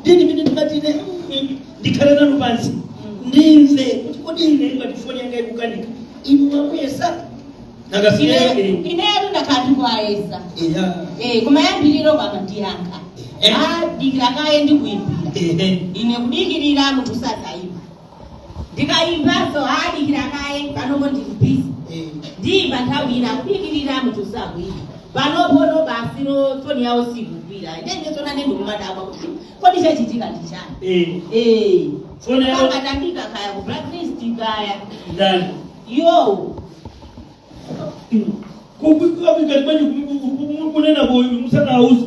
ndiye ndimene ndimati ine mm, ndikhale nanu pansi ndimve kuti kodi ine ngati foni yanga ikukanika inu mwayesa nakafika yake inetu ndakhala ndikuwayesa eya Eh, koma yambiriro pano ankayankha Eh. dikira kaye ndikuyimbira ehe ine kudikirira munthu sadayimbe ndikayimbanso dikira kaye panopo ndili bizi Eh, ndiyimba nthawi ina kudikirira munthu sakuyimba panopo no basi lo foni yawo siyikugwira inenso ndiye ndikumadabwa kuti kodi chachitika ndi chani Eh, Eh, Foni yawo- akutiyika kaya ku blacklist kaya ndani yo kukwikabika kweni kunena kuti uyu musanauza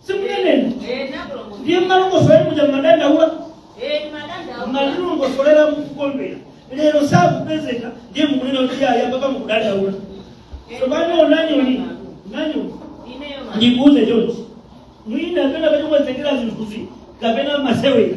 simuneneni ndiye mumalongosola muja mumadandaula mumalongosolera mukukondwera lero sakupezeka ndiye mukunena kuti eya baba mukudandaula tsopano onani onani ndikuuze chonchi mwina penapake mwazitengera zinthuzi kapena masewera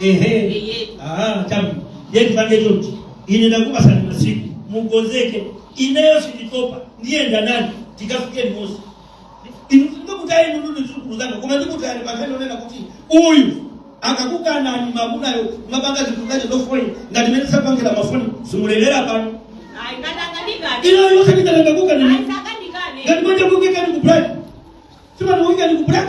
ehe ah tabu yeye tupange chonchi ine ndakupatsani masiku mukonzeke ineyo sinditopa ndiye onani tikafika mosi ndikutayeni ndithu zidzukulu zanga koma ndikutayani pakhani yonena kuti uyu akakukanani mamunayo amapanga zinthu zache zofoni ngati mene akupangira mafoni simulira pano inuyonso nditangokukanani ngati manje kukuikani ku black simani kukuikani ku black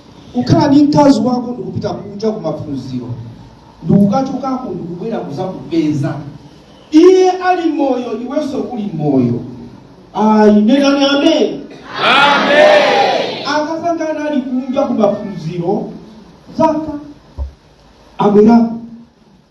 ukhala ndi mkazi wako ndikupita kunja kumaphunziro ndikukatha uko ndikubwera kuzakupeza iye ali moyo iwenso uli moyo ayi nenani amen akazanga ali kunja kumaphunziro zaka abwera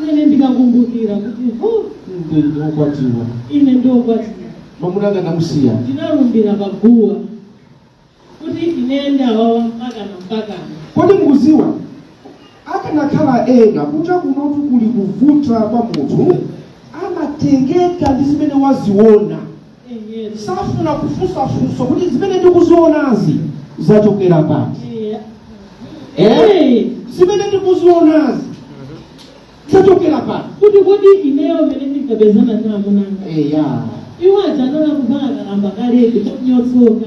mene ndikakumbukira kuti ndi wokwatiwa ine ndi wokwatira mwamuna anga ndamusiya ndinalumbira pa guwa kuti ine ndi wa awa mpakana mpakana kodi mukuziwa akanakhala ena kunja kunotu kuli kuvuta kwa munthu amatengeka ndi zimene waziona Ehe, safuna kufunsa funso kuti zimene ndikuzionazi zachokera pati ehe. Eh, zimene ndikuzionazi zachokera pati kuti kuti ineyo mene ndinkapezana ndi amuna anga eya iwo aja anali kupanga kalamba kaleke chonyotsoka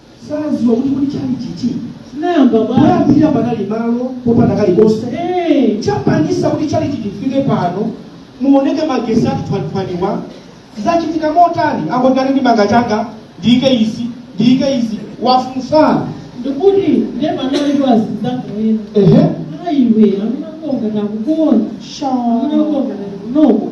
saziwa kuti kuti tchalitchichi chinayamba bwanji poyambira panali malo popanda kalikonse Eh, chapangisa kuti tchalitchichi chifike pano muoneke magesi tuwanituwani awa zachitika motani angoganiza ndi manga changa ndiyike izi ndiyike izi wafunsa ndikuti ndiye panali kwazizakuwena ehe ayiwe amene akonda takukonda amene akonda takunoko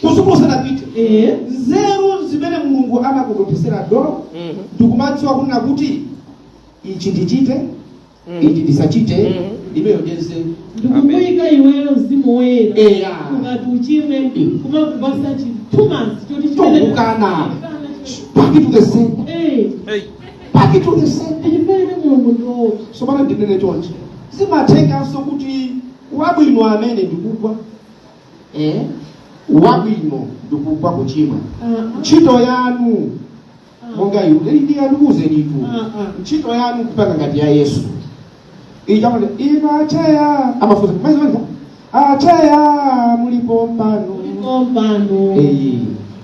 kusuku usanapite Eh. nzeru zimene mulungu anakutokosera do Mhm. ndikumadziwa kunena kuti ichi ndichite Mhm. ichi ndisachite Mhm. imeneyo ndiye nzeru ndikukuyika iweyo mzimu woyera eya ukati uchimwe kumakupasa chikumbumtima choti chimene- Chokukana. back to the center Eh, Hey. back to the center chimene mulungu ndiwowo sopano ndinene chonchi zimathekanso kuti wabwino amene ndikugwa eh? wabwino ndikugwa kuchimwa Mm-mm. ntchito yanu monga iwe ndi ndikuuzenitu Mm-mm. ntchito yanu kupanga ngati ya yesu ija amati inu acheya amafunsa maizimaliza acheya mulipo mpano Ndipo mpano Eh,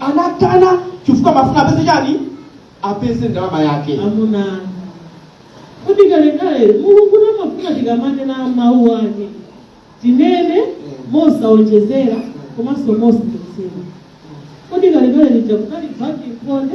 anakana chifukwa amafuna apeze chani apeze ndalama yake amuna kuti kalekale mulungu amafuna tikamanena mawu ake tinene mosaonjezera komanso mosachotsera kuti kalekale lija kunali baki mkonde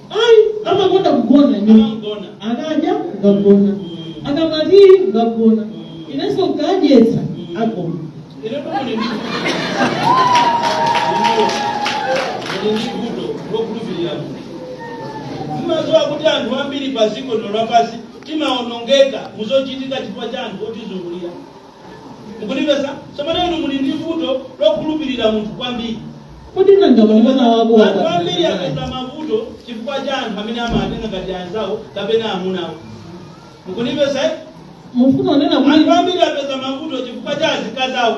ayi amakonda kugona ine Amagona. akadya kukagona akamaliza kukagona inenso nkadyetsa agona Ine kumene ndi. Ine ndi vuto lokhulupirira Mulungu. Mmaziwa kuti anthu ambiri pa dziko lino lapansi timaonongeka muzochitika chifukwa cha anthu otizungulira. mukundimvetsa tsopano inu muli ndi vuto lokhulupirira munthu kwambiri Kodi nanga mwamuna wako wapatsa chiyani? anthu ambiri apeza mavuto chifukwa cha anthu amene amawatenga ngati anzawo kapena amunawo mukundimvetsa eh? Mufuna kunena kuti anthu ambiri apeza mavuto chifukwa cha azikazawo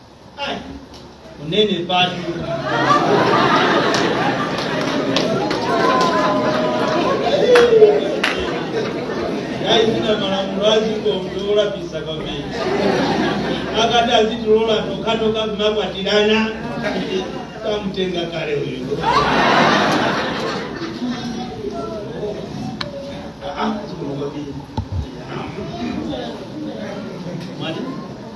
Ai, unene patu yayi zina ndi malamulo aziko ndi olapitsa kwambiri akadati azitilola tokhatokha kumakwatirana nkadamutenga kale uyu Ah, ah, ziko kwambiri. Mwati?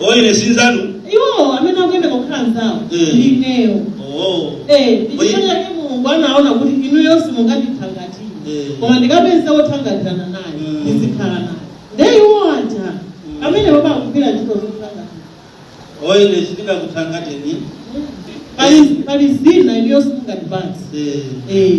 Oh, ine sinzanu. iwowo amene akuyenera kukhala anzawo Mm. ndi ineyo Oh. Eh, Oye. ndichifukwa chake mulungu anaona kuti inuyo simungandithangate Mm. koma ndikapeza wothangatirana naye Mm. ndizikhala naye nde iwo aja amene akugwira ntchito zothangatira Oh, ine sindingakuthangateni. pali pali zina inuyo simungandipatse Eh. Eh,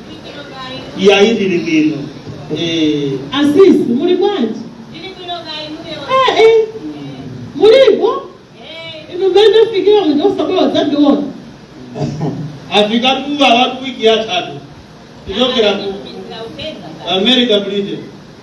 iyayi ndili bwino Eh, asisi muli bwanji Eh, eh, mulipo inu mmene ndafikira muja osabwera kudzandiona afika tuwa watu wiki yatatu kuchokera ku america britain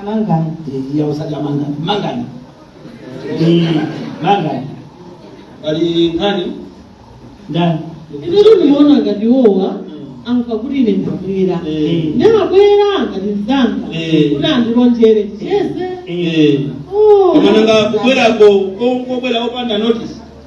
amangani Eh, iya usati amangani mangani Eh, mangani pali nkhani ndani inetu ndimaona ngati iwowa amva kuti ine ndabwera Eh. ndimabwera ngati mzanga Eh. kuti andilonjere ticheze Eh. Oh. koma nanga kubwerako ko- kobwera opanda notice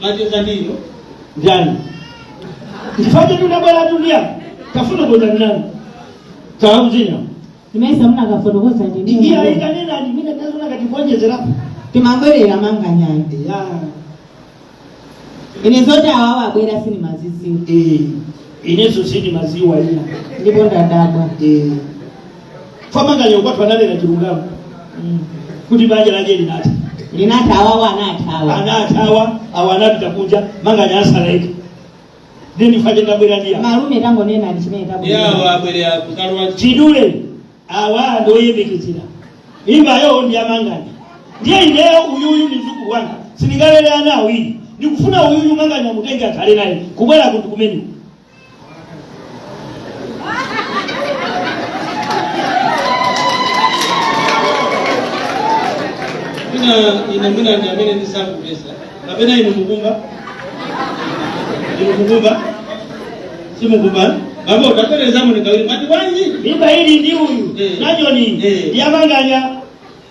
macheza ndiyo ndani chifukwa tunabwera tulia tafuna kuuza ndani tauzina Mesa munakafotokoza ndi ndiye ndiye. aikanena ndi mine nazona katiwonjezerapo Timangwerera manganyayo. ya Ine zoti awawa abwera sindimaziziwa. eh inenso sindimaziwa ina Ndipo ndadabwa. eh kwa Manganya ukwati wake ananena chilungamo kuti banja lake linatha linatha awawa anathawa anathawa awo anapita kunja Manganya atsala yekha ndiye ndi chifukwa chake ndabwera ndi awa malume tangonena chimene tabwera abwere mwachidule awa ndoyembekezera mimbayo ndi ya Manganya ndiye ineyo uyuyu ndi mzukulu wanga sindingalere ana awiri ndikufuna uyuyu Manganya amutenge akhale naye kubwera kuti kumene mwina ine mwina ndi amene sindikumvetsa kapena inu mukumva inu mukumva simukumva bambo utapereza munikawiri mwati bwanji mimba ili ndi uyu Eh. Najoni Eh. ndi ya Manganya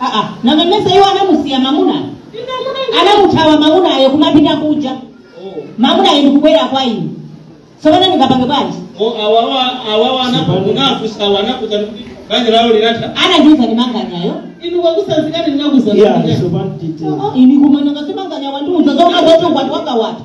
aa nanga mmesa iwo anamusiya mamunayo anamuthawa mamunayo kumapita kuja mamunayo ndikubwera kwa ine tsopano ndingapange bwanji awawa awawa anakufunsa awa anakuuza kuti banja lawo linatha anandiuza ndi Manganyayo inu anakutsanzikani anakuuzani iya sopano tite ine koma nanga si Manganya wandiuza zona zoti ukwati wake watha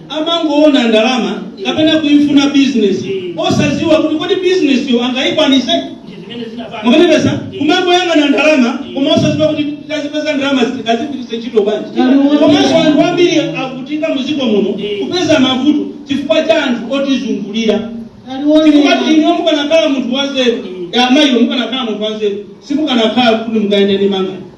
amangoona ndalama kapena kuifuna business osaziwa kuti kodi business yo angayikwanise ndi zimene zinapanga mukundimvetsa kumangoyang'ana ndalama koma osaziwa kuti tazipeza ndalama tazigwiritse ntchito bwanji komanso anthu ambiri akuvutika muziko muno kupeza mavuto chifukwa cha anthu otizungulira chifukwa inu mukanakhala munthu wanzeru amayiwo mukanakhala munthu wanzeru simukanakhala kuti mukuyenda ndi mangani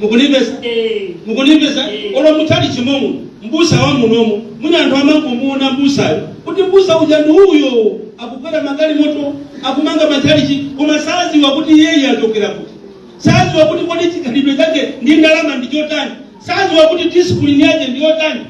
Mukunimvesa? Mukunimvesa? Olo mutali chimomo, mbusa wa munomo, mwina anthu amangomuona mbusayo kuti mbusa uja ndi uyo akukwera magalimoto akumanga matchalichi koma saziwa kuti iyeyo achokera kuti saziwa kuti kodi chikhalidwe chake ndi ndalama ndi chotani saziwa kuti discipline yake ndi yotani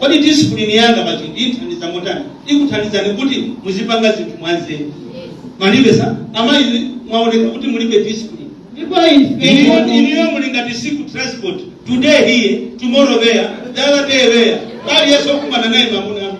kodi disipulini yanga pa chinthu ithandiza motani ikuthandizani kuti muzipanga zinthu mwanzeru mwandimvetsa amayi mwaoneka kuti mulibe disipulini inuyo muli ngati tsiku transport today here tomorrow there the other day there aliyense okumana naye mamuna